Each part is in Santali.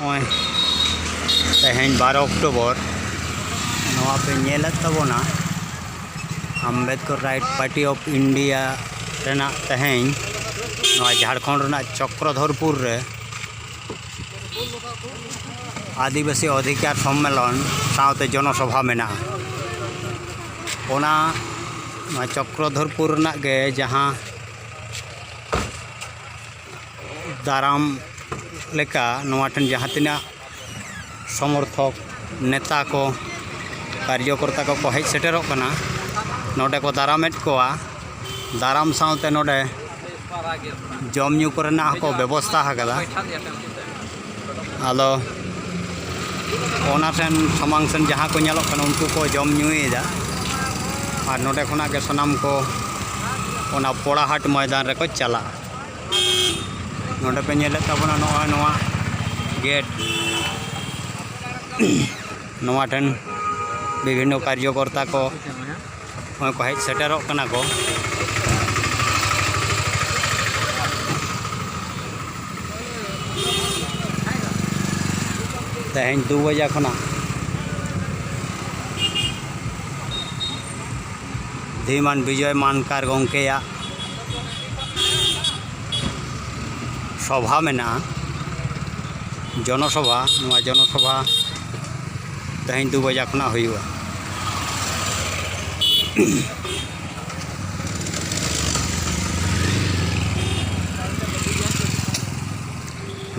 ᱱᱚᱜᱼᱚᱭ ᱛᱮᱦᱮᱧ ᱵᱟᱨᱚ ᱚᱠᱴᱳᱵᱚᱨ ᱱᱚᱣᱟ ᱯᱮ ᱧᱮᱞᱮᱫ ᱛᱟᱵᱚᱱᱟ Ambedkar right party of India ᱨᱮᱱᱟᱜ ᱛᱮᱦᱮᱧ ᱱᱚᱣᱟ ᱡᱷᱟᱲᱠᱷᱚᱸᱰ ᱨᱮᱱᱟᱜ ᱪᱚᱠᱨᱚᱫᱷᱚᱨᱯᱩᱨ ᱨᱮ ᱟᱹᱫᱤᱵᱟᱹᱥᱤ ᱚᱫᱷᱤᱠᱟᱨ ᱥᱚᱢᱢᱮᱞᱚᱱ ᱥᱟᱶᱛᱮ ᱡᱚᱱᱚᱥᱚᱵᱷᱟ ᱢᱮᱱᱟᱜᱼᱟ ᱚᱱᱟ ᱱᱚᱣᱟ ᱪᱚᱠᱨᱚᱫᱷᱚᱨᱯᱩᱨ ᱨᱮᱱᱟᱜ ᱜᱮ ᱡᱟᱦᱟᱸ ᱫᱟᱨᱟᱢ ᱞᱮᱠᱟ ᱱᱚᱣᱟ ᱴᱷᱮᱱ ᱡᱟᱦᱟᱸ ᱛᱤᱱᱟᱹᱜ ᱥᱚᱢᱚᱨᱛᱷᱚᱠ ᱱᱮᱛᱟ ᱠᱚ ᱠᱟᱨᱡᱚᱠᱚᱨᱛᱟ ᱠᱚᱠᱚ ᱦᱮᱡ ᱥᱮᱴᱮᱨᱚᱜ ᱠᱟᱱᱟ ᱱᱚᱰᱮ ᱠᱚ ᱫᱟᱨᱟᱢᱮᱫ ᱠᱚᱣᱟ ᱫᱟᱨᱟᱢ ᱥᱟᱶᱛᱮ ᱱᱚᱰᱮ ᱡᱚᱢ ᱧᱩ ᱠᱚᱨᱮᱱᱟᱜ ᱦᱚᱸᱠᱚ ᱵᱮᱵᱚᱥᱛᱷᱟ ᱟᱠᱟᱫᱟ ᱟᱫᱚ ᱚᱱᱟ ᱴᱷᱮᱱ ᱥᱟᱢᱟᱝ ᱥᱮᱱ ᱡᱟᱦᱟᱸ ᱠᱚ ᱧᱮᱞᱚᱜ ᱠᱟᱱᱟ ᱩᱱᱠᱩ ᱠᱚ ᱡᱚᱢ ᱧᱩᱭᱮᱫᱟ ᱟᱨ ᱱᱚᱰᱮ ᱠᱷᱚᱱᱟᱜ ᱜᱮ ᱥᱟᱱᱟᱢ ᱠᱚ ᱚᱱᱟ ᱯᱚᱲᱟᱦᱟᱴ ᱢᱚᱭᱫᱟᱱ ᱨᱮᱠᱚ ᱪᱟᱞᱟᱜᱼᱟ ᱱᱚᱰᱮ ᱯᱮ ᱧᱮᱞᱮᱫ ᱛᱟᱵᱚᱱᱟ ᱱᱚᱜᱼᱚᱭ ᱱᱚᱣᱟ ᱜᱮᱴ ᱱᱚᱣᱟ ᱴᱷᱮᱱ ᱵᱤᱵᱷᱤᱱᱱᱚ ᱠᱟᱨᱡᱚᱠᱚᱨᱛᱟ ᱠᱚ ᱱᱚᱜᱼᱚᱭ ᱠᱚ ᱦᱮᱡ ᱥᱮᱴᱮᱨᱚᱜ ᱠᱟᱱᱟ ᱠᱚ ᱛᱮᱦᱮᱧ ᱫᱩ ᱵᱟᱡᱟ ᱠᱷᱚᱱᱟᱜ ᱫᱷᱤᱢᱟᱱ ᱵᱤᱡᱚᱭ ᱢᱟᱱᱠᱟᱨ ᱜᱚᱢᱠᱮᱭᱟᱜ ᱥᱚᱵᱷᱟ ᱢᱮᱱᱟᱜᱼᱟ ᱡᱚᱱᱚᱥᱚᱵᱷᱟ ᱱᱚᱣᱟ ᱡᱚᱱᱚᱥᱚᱵᱷᱟ ᱛᱮᱦᱮᱧ ᱫᱩ ᱵᱟᱡᱟ ᱠᱷᱚᱱᱟᱜ ᱦᱩᱭᱩᱜᱼᱟ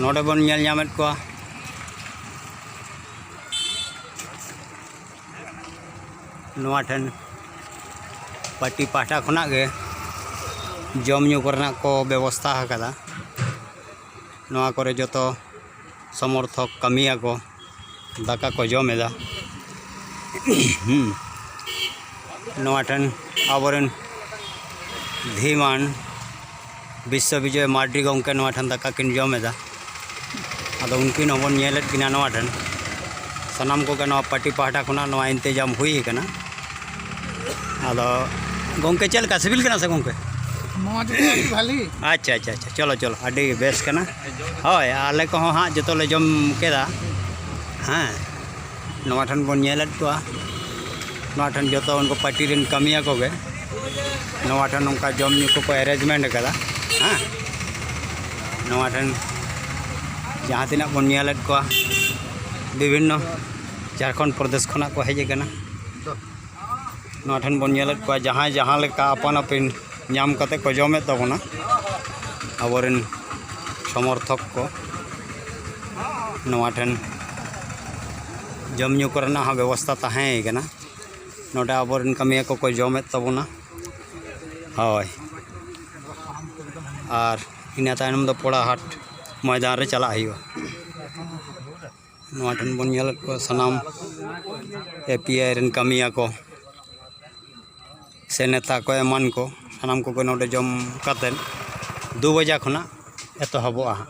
ᱱᱚᱰᱮ ᱵᱚᱱ ᱧᱮᱞ ᱧᱟᱢᱮᱫ ᱠᱚᱣᱟ ᱱᱚᱣᱟ ᱴᱷᱮᱱ ᱯᱟᱨᱴᱤ ᱯᱟᱦᱴᱟ ᱠᱷᱚᱱᱟᱜ ᱜᱮ ᱡᱚᱢ ᱧᱩ ᱠᱚᱨᱮᱱᱟᱜ ᱠᱚ ᱵᱮᱵᱚᱥᱛᱷᱟ ᱟᱠᱟᱫᱟ ᱱᱚᱣᱟ ᱠᱚᱨᱮ ᱡᱚᱛᱚ ᱥᱚᱢᱚᱨᱛᱷᱚᱠ ᱠᱟᱹᱢᱤᱭᱟ ᱠᱚ ᱫᱟᱠᱟ ᱠᱚ ᱡᱚᱢ ᱮᱫᱟ ᱱᱚᱣᱟ ᱴᱷᱮᱱ ᱟᱵᱚᱨᱮᱱ ᱫᱷᱤᱢᱟᱱ ᱵᱤᱥᱥᱚ ᱵᱤᱡᱚᱭ ᱢᱟᱨᱰᱤ ᱜᱚᱢᱠᱮ ᱱᱚᱣᱟ ᱴᱷᱮᱱ ᱫᱟᱠᱟ ᱠᱤᱱ ᱡᱚᱢ ᱮᱫᱟ ᱟᱫᱚ ᱩᱱᱠᱤᱱ ᱦᱚᱸᱵᱚᱱ ᱧᱮᱞᱮᱫ ᱠᱤᱱᱟ ᱱᱚᱣᱟ ᱴᱷᱮᱱ ᱥᱟᱱᱟᱢ ᱠᱚᱜᱮ ᱱᱚᱣᱟ ᱯᱟᱨᱴᱤ ᱯᱟᱦᱴᱟ ᱠᱷᱚᱱᱟᱜ ᱱᱚᱣᱟ ᱤᱱᱛᱮᱡᱟᱢ ᱦᱩᱭ ᱟᱠᱟᱱᱟ ᱟᱫᱚ ᱜᱚᱢᱠᱮ ᱪᱮᱫ ᱞᱮᱠᱟ ᱥᱤᱵᱤᱞ ᱠᱟᱱᱟ ᱥᱮ ᱜᱚᱢᱠᱮ ᱟᱪᱪᱷᱟ ᱟᱪᱪᱷᱟ ᱟᱪᱪᱷᱟ ᱪᱚᱞᱚ ᱪᱚᱞᱚ ᱟᱹᱰᱤ ᱵᱮᱥ ᱠᱟᱱᱟ ᱦᱳᱭ ᱟᱞᱮ ᱠᱚᱦᱚᱸ ᱦᱟᱸᱜ ᱡᱚᱛᱚᱞᱮ ᱡᱚᱢ ᱠᱮᱫᱟ ᱦᱮᱸ ᱱᱚᱣᱟ ᱴᱷᱮᱱ ᱵᱚᱱ ᱧᱮᱞᱮᱫ ᱠᱚᱣᱟ ᱱᱚᱣᱟ ᱴᱷᱮᱱ ᱡᱚᱛᱚ ᱩᱱᱠᱩ ᱯᱟᱨᱴᱤ ᱨᱮᱱ ᱠᱟᱹᱢᱤᱭᱟ ᱠᱚᱜᱮ ᱱᱚᱣᱟ ᱴᱷᱮᱱ ᱱᱚᱝᱠᱟ ᱡᱚᱢ ᱧᱩ ᱠᱚᱠᱚ ᱮᱨᱮᱡᱽᱢᱮᱱᱴ ᱟᱠᱟᱫᱟ ᱦᱮᱸ ᱱᱚᱣᱟ ᱴᱷᱮᱱ ᱡᱟᱦᱟᱸ ᱛᱤᱱᱟᱹᱜ ᱵᱚᱱ ᱧᱮᱞᱮᱫ ᱠᱚᱣᱟ ᱵᱤᱵᱷᱤᱱᱱᱚ ᱡᱷᱟᱲᱠᱷᱚᱸᱰ ᱯᱨᱚᱫᱮᱥ ᱠᱷᱚᱱᱟᱜ ᱠᱚ ᱦᱮᱡ ᱟᱠᱟᱱᱟ ᱱᱚᱣᱟ ᱴᱷᱮᱱ ᱵᱚᱱ ᱧᱮᱞᱮᱫ ᱠᱚᱣᱟ ᱡᱟᱦᱟᱸᱭ ᱡᱟᱦᱟᱸ ᱞᱮᱠᱟ ᱟᱯᱟᱱ ᱟᱹᱯᱤᱱ ᱧᱟᱢ ᱠᱟᱛᱮ ᱠᱚ ᱡᱚᱢᱮᱫ ᱛᱟᱵᱚᱱᱟ ᱟᱵᱚᱨᱮᱱ ᱥᱚᱢᱚᱨᱛᱷᱚᱠ ᱠᱚ ᱱᱚᱣᱟ ᱴᱷᱮᱱ ᱡᱚᱢ ᱧᱩ ᱠᱚᱨᱮᱱᱟᱜ ᱦᱚᱸ ᱵᱮᱵᱚᱥᱛᱷᱟ ᱛᱟᱦᱮᱸ ᱠᱟᱱᱟ ᱱᱚᱰᱮ ᱟᱵᱚᱨᱮᱱ ᱠᱟᱹᱢᱤᱭᱟᱹ ᱠᱚᱠᱚ ᱡᱚᱢᱮᱫ ᱛᱟᱵᱚᱱᱟ ᱦᱳᱭ ᱟᱨ ᱤᱱᱟᱹ ᱛᱟᱭᱱᱚᱢ ᱫᱚ ᱯᱚᱲᱟᱦᱟᱴ ᱢᱚᱭᱫᱟᱱ ᱨᱮ ᱪᱟᱞᱟᱜ ᱦᱩᱭᱩᱜᱼᱟ ᱱᱚᱣᱟ ᱴᱷᱮᱱ ᱵᱚᱱ ᱧᱮᱞᱮᱫ ᱠᱚᱣᱟ ᱥᱟᱱᱟᱢ ᱮ ᱯᱤ ᱟᱭ ᱨᱮᱱ ᱠᱟᱹᱢᱤᱭᱟ ᱠᱚ ᱥᱮ ᱱᱮᱛᱟ ᱠᱚ ᱮᱢᱟᱱ ᱠᱚ ᱥᱟᱱᱟᱢ ᱠᱚᱜᱮ ᱱᱚᱰᱮ ᱡᱚᱢ ᱠᱟᱛᱮᱫ ᱫᱩ ᱵᱟᱡᱟ ᱠᱷᱚᱱᱟᱜ ᱮᱛᱚᱦᱚᱵᱚᱜᱼᱟ ᱦᱟᱸᱜ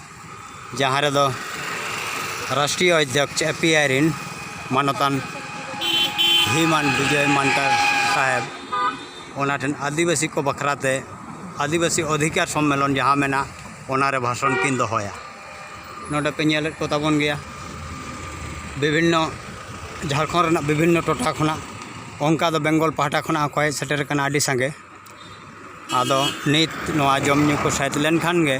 ᱡᱟᱦᱟᱸ ᱨᱮᱫᱚ ᱨᱟᱥᱴᱨᱤᱭᱚ ᱚᱫᱷᱭᱚᱠᱥ ᱮ ᱯᱤ ᱟᱭ ᱨᱮᱱ ᱢᱟᱱᱚᱛᱟᱱ ᱦᱤᱢᱟᱱ ᱵᱤᱡᱚᱭ ᱢᱟᱱᱴᱟ ᱥᱟᱦᱮᱵᱽ ᱚᱱᱟ ᱴᱷᱮᱱ ᱟᱹᱫᱤᱵᱟᱹᱥᱤ ᱠᱚ ᱵᱟᱠᱷᱨᱟ ᱛᱮ ᱟᱹᱫᱤᱵᱟᱹᱥᱤ ᱚᱫᱷᱤᱠᱟᱨ ᱥᱚᱢᱢᱮᱞᱚᱱ ᱡᱟᱦᱟᱸ ᱢᱮᱱᱟᱜ ᱚᱱᱟ ᱨᱮ ᱵᱷᱟᱥᱚᱱ ᱠᱤᱱ ᱫᱚᱦᱚᱭᱟ ᱱᱚᱰᱮ ᱯᱮ ᱧᱮᱞᱮᱫ ᱠᱚ ᱛᱟᱵᱚᱱ ᱜᱮᱭᱟ ᱵᱤᱵᱷᱤᱱᱱᱚ ᱡᱷᱟᱲᱠᱷᱚᱸᱰ ᱨᱮᱱᱟᱜ ᱵᱤᱵᱷᱤᱱᱱᱚ ᱴᱚᱴᱷᱟ ᱠᱷᱚᱱᱟᱜ ᱚᱱᱠᱟ ᱫᱚ ᱵᱮᱝᱜᱚᱞ ᱯᱟᱦᱴᱟ ᱠᱷᱚᱱᱟᱜ ᱦᱚᱸᱠᱚ ᱦᱮᱡ ᱥᱮᱴᱮᱨ ᱟᱠᱟᱱᱟ ᱟᱹᱰᱤ ᱥᱟᱸᱜᱮ ᱟᱫᱚ ᱱᱤᱛ ᱱᱚᱣᱟ ᱡᱚᱢ ᱧᱩ ᱠᱚ ᱥᱟᱹᱛ ᱞᱮᱱᱠᱷᱟᱱ ᱜᱮ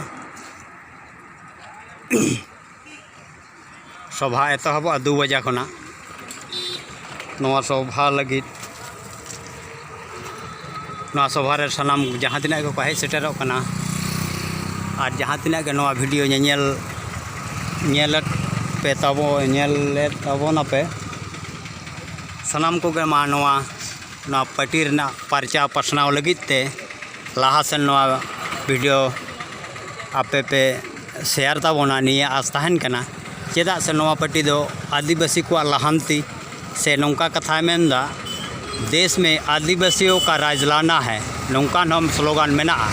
ᱥᱚᱵᱷᱟ ᱮᱛᱚᱦᱚᱵᱚᱜᱼᱟ ᱫᱩ ᱵᱟᱡᱟ ᱠᱷᱚᱱᱟᱜ ᱱᱚᱣᱟ ᱥᱚᱵᱷᱟ ᱞᱟᱹᱜᱤᱫ ᱱᱚᱣᱟ ᱥᱚᱵᱷᱟ ᱨᱮ ᱥᱟᱱᱟᱢ ᱡᱟᱦᱟᱸ ᱛᱤᱱᱟᱹᱜ ᱜᱮᱠᱚ ᱦᱮᱡ ᱥᱮᱴᱮᱨᱚᱜ ᱠᱟᱱᱟ ᱟᱨ ᱡᱟᱦᱟᱸ ᱛᱤᱱᱟᱹᱜ ᱜᱮ ᱱᱚᱣᱟ ᱵᱷᱤᱰᱤᱭᱳ ᱧᱮᱧᱮᱞ ᱧᱮᱞᱮᱫ ᱯᱮ ᱛᱟᱵᱚ ᱧᱮᱞᱮᱫ ᱛᱟᱵᱚᱱᱟᱯᱮ ᱥᱟᱱᱟᱢ ᱠᱚᱜᱮ ᱢᱟ ᱱᱚᱣᱟ ᱱᱚᱣᱟ ᱯᱟᱴᱤ ᱨᱮᱱᱟᱜ ᱯᱟᱨᱪᱟᱣ ᱯᱟᱥᱱᱟᱣ ᱞᱟᱹᱜᱤᱫ ᱛᱮ ᱞᱟᱦᱟ ᱥᱮᱱ ᱱᱚᱣᱟ ᱵᱷᱤᱰᱤᱭᱳ ᱟᱯᱮ ᱯᱮ ᱥᱮᱭᱟᱨ ᱛᱟᱵᱚᱱᱟ ᱱᱤᱭᱟᱹ ᱟᱸᱥ ᱛᱟᱦᱮᱱ ᱠᱟᱱᱟ ᱪᱮᱫᱟᱜ ᱥᱮ ᱱᱚᱣᱟ ᱯᱟᱴᱤ ᱫᱚ ᱟᱹᱫᱤᱵᱟᱹᱥᱤ ᱠᱚᱣᱟᱜ ᱞᱟᱦᱟᱱᱛᱤ ᱥᱮ ᱱᱚᱝᱠᱟ ᱠᱟᱛᱷᱟᱭ ᱢᱮᱱᱫᱟ ᱫᱮᱥ ᱢᱮ ᱟᱹᱫᱤᱵᱟᱹᱥᱤᱭᱳ ᱠᱟ ᱨᱟᱡᱽ ᱞᱟᱱᱟ ᱦᱮ ᱱᱚᱝᱠᱟᱱ ᱦᱚᱸ ᱥᱞᱳᱜᱟᱱ ᱢᱮᱱᱟᱜᱼᱟ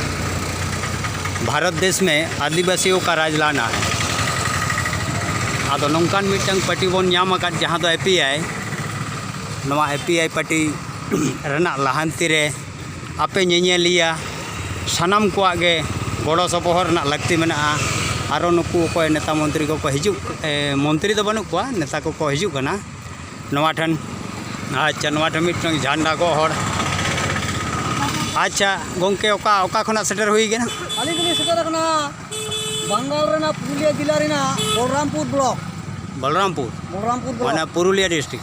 ᱵᱷᱟᱨᱚᱛ ᱫᱮᱥ ᱢᱮ ᱟᱹᱫᱤᱵᱟᱹᱥᱤᱭᱳ ᱠᱟ ᱨᱟᱡᱽ ᱞᱟᱱᱟ ᱦᱮ ᱟᱫᱚ ᱱᱚᱝᱠᱟᱱ ᱢᱤᱫᱴᱟᱝ ᱯᱟᱴᱤ ᱵᱚᱱ ᱧᱟᱢ ᱟᱠᱟᱫ ᱡᱟᱦᱟᱸ ᱫᱚ ᱮ ᱯᱤ ᱟᱭ ᱱᱚᱣᱟ ᱮ ᱯᱤ ᱟᱭ ᱯᱟᱨᱴᱤ ᱨᱮᱱᱟᱜ ᱞᱟᱦᱟᱱᱛᱤ ᱨᱮ ᱟᱯᱮ ᱧᱮᱧᱮᱞᱤᱭᱟᱹ ᱥᱟᱱᱟᱢ ᱠᱚᱣᱟᱜ ᱜᱮ ᱜᱚᱲᱚ ᱥᱚᱯᱚᱦᱚᱫ ᱨᱮᱱᱟᱜ ᱞᱟᱹᱠᱛᱤ ᱢᱮᱱᱟᱜᱼᱟ ᱟᱨᱚ ᱱᱩᱠᱩ ᱚᱠᱚᱭ ᱱᱮᱛᱟ ᱢᱚᱱᱛᱨᱤ ᱠᱚᱠᱚ ᱦᱤᱡᱩᱜ ᱢᱚᱱᱛᱨᱤ ᱫᱚ ᱵᱟᱹᱱᱩᱜ ᱠᱚᱣᱟ ᱱᱮᱛᱟ ᱠᱚᱠᱚ ᱦᱤᱡᱩᱜ ᱠᱟᱱᱟ ᱱᱚᱣᱟ ᱴᱷᱮᱱ ᱟᱪᱪᱷᱟ ᱱᱚᱣᱟ ᱴᱷᱮᱱ ᱢᱤᱫᱴᱟᱝ ᱡᱷᱟᱱᱰᱟ ᱜᱚᱦᱚᱲ ᱟᱪᱪᱷᱟ ᱜᱚᱢᱠᱮ ᱚᱠᱟ ᱚᱠᱟ ᱠᱷᱚᱱᱟᱜ ᱥᱮᱴᱮᱨ ᱦᱩᱭ ᱠᱟᱱᱟ ᱟᱹᱞᱤᱧ ᱫᱚᱞᱤᱧ ᱥᱮᱴᱮᱨ ᱟᱠᱟᱱᱟ ᱵᱟᱝᱜᱟᱞ ᱨᱮᱱᱟᱜ ᱯᱩᱨᱩᱞᱤᱭᱟᱹ ᱡᱮᱞᱟ ᱨᱮᱱᱟᱜ ᱵᱚᱞᱨᱟᱢᱯᱩᱨ ᱵᱞᱚᱠ ᱵᱚᱞᱨᱟᱢᱯᱩᱨ ᱵᱚᱞᱨᱟᱢᱯᱩᱨ ᱵᱞᱚᱠ ᱢᱟᱱᱮ ᱯᱩᱨᱩᱞᱤᱭᱟᱹ ᱰᱤᱥᱴᱨᱤᱠ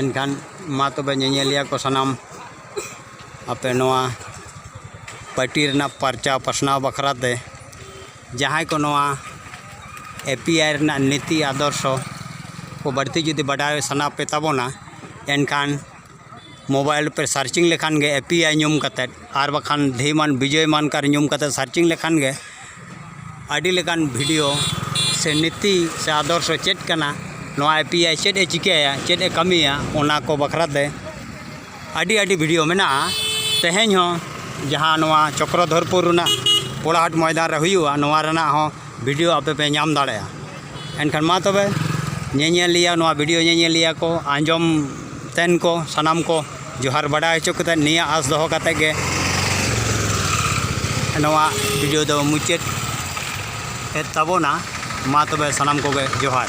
ᱮᱱᱠᱷᱟᱱ ᱢᱟ ᱛᱚᱵᱮ ᱧᱮᱧᱮᱞᱤᱭᱟᱹ ᱠᱚ ᱥᱟᱱᱟᱢ ᱟᱯᱮ ᱱᱚᱣᱟ ᱯᱟᱹᱴᱤ ᱨᱮᱱᱟᱜ ᱯᱟᱨᱪᱟᱣ ᱯᱟᱥᱱᱟᱣ ᱵᱟᱠᱷᱨᱟ ᱛᱮ ᱡᱟᱦᱟᱸᱭ ᱠᱚ ᱱᱚᱣᱟ ᱮ ᱯᱤ ᱟᱭ ᱨᱮᱱᱟᱜ ᱱᱤᱛᱤ ᱟᱫᱚᱨᱥᱚ ᱠᱚ ᱵᱟᱹᱲᱛᱤ ᱡᱩᱫᱤ ᱵᱟᱰᱟᱭ ᱥᱟᱱᱟ ᱯᱮ ᱛᱟᱵᱚᱱᱟ ᱮᱱᱠᱷᱟᱱ ᱢᱳᱵᱟᱭᱤᱞ ᱯᱮ ᱥᱟᱨᱪᱤᱝ ᱞᱮᱠᱷᱟᱱ ᱜᱮ ᱮ ᱯᱤ ᱟᱭ ᱧᱩᱢ ᱠᱟᱛᱮᱫ ᱟᱨ ᱵᱟᱠᱷᱟᱱ ᱫᱷᱤᱢᱟᱱ ᱵᱤᱡᱚᱭ ᱢᱟᱱᱠᱟᱨ ᱧᱩᱢ ᱠᱟᱛᱮᱫ ᱥᱟᱨᱪᱤᱝ ᱞᱮᱠᱷᱟᱱ ᱜᱮ ᱟᱹᱰᱤ ᱞᱮᱠᱟᱱ ᱵᱷᱤᱰᱤᱭᱳ ᱥᱮ ᱱᱤᱛᱤ ᱥᱮ ᱟᱫᱚᱨᱥᱚ ᱪᱮᱫ ᱠᱟᱱᱟ ᱱᱚᱣᱟ ᱮ ᱯᱤ ᱟᱭ ᱪᱮᱫ ᱮ ᱪᱤᱠᱟᱹᱭᱟ ᱪᱮᱫ ᱮ ᱠᱟᱹᱢᱤᱭᱟ ᱚᱱᱟ ᱠᱚ ᱵᱟᱠᱷᱨᱟ ᱛᱮ ᱟᱹᱰᱤ ᱟᱹᱰᱤ ᱵᱷᱤᱰᱤᱭᱳ ᱢᱮᱱᱟᱜᱼᱟ ᱛᱮᱦᱮᱧ ᱦᱚᱸ ᱡᱟᱦᱟᱸ ᱱᱚᱣᱟ ᱪᱚᱠᱨᱚᱫᱷᱚᱨᱯᱩᱨ ᱨᱮᱱᱟᱜ ᱯᱚᱲᱟᱦᱟᱴ ᱢᱚᱭᱫᱟᱱ ᱨᱮ ᱦᱩᱭᱩᱜᱼᱟ ᱱᱚᱣᱟ ᱨᱮᱱᱟᱜ ᱦᱚᱸ ᱵᱷᱤᱰᱤᱭᱳ ᱟᱯᱮ ᱯᱮ ᱧᱟᱢ ᱫᱟᱲᱮᱭᱟᱜᱼᱟ ᱮᱱᱠᱷᱟᱱ ᱢᱟ ᱛᱚᱵᱮ ᱧᱮᱧᱮᱞᱤᱭᱟᱹ ᱱᱚᱣᱟ ᱵᱷᱤᱰᱤᱭᱳ ᱧᱮᱧᱮᱞᱤᱭᱟᱹ ᱠᱚ ᱟᱸᱡᱚᱢ ᱛᱮᱱ ᱠᱚ ᱥᱟᱱᱟᱢ ᱠᱚ ᱡᱚᱦᱟᱨ ᱵᱟᱰᱟᱭ ᱦᱚᱪᱚ ᱠᱟᱛᱮᱫ ᱱᱤᱭᱟᱹ ᱟᱸᱥ ᱫᱚᱦᱚ ᱠᱟᱛᱮᱫ ᱜᱮ ᱱᱚᱣᱟ ᱵᱷᱤᱰᱤᱭᱳ ᱫᱚ ᱢᱩᱪᱟᱹᱫ ᱮᱫ ᱛᱟᱵᱚᱱᱟ ᱢᱟ ᱛᱚᱵᱮ ᱥᱟᱱᱟᱢ ᱠᱚᱜᱮ ᱡᱚᱦᱟᱨ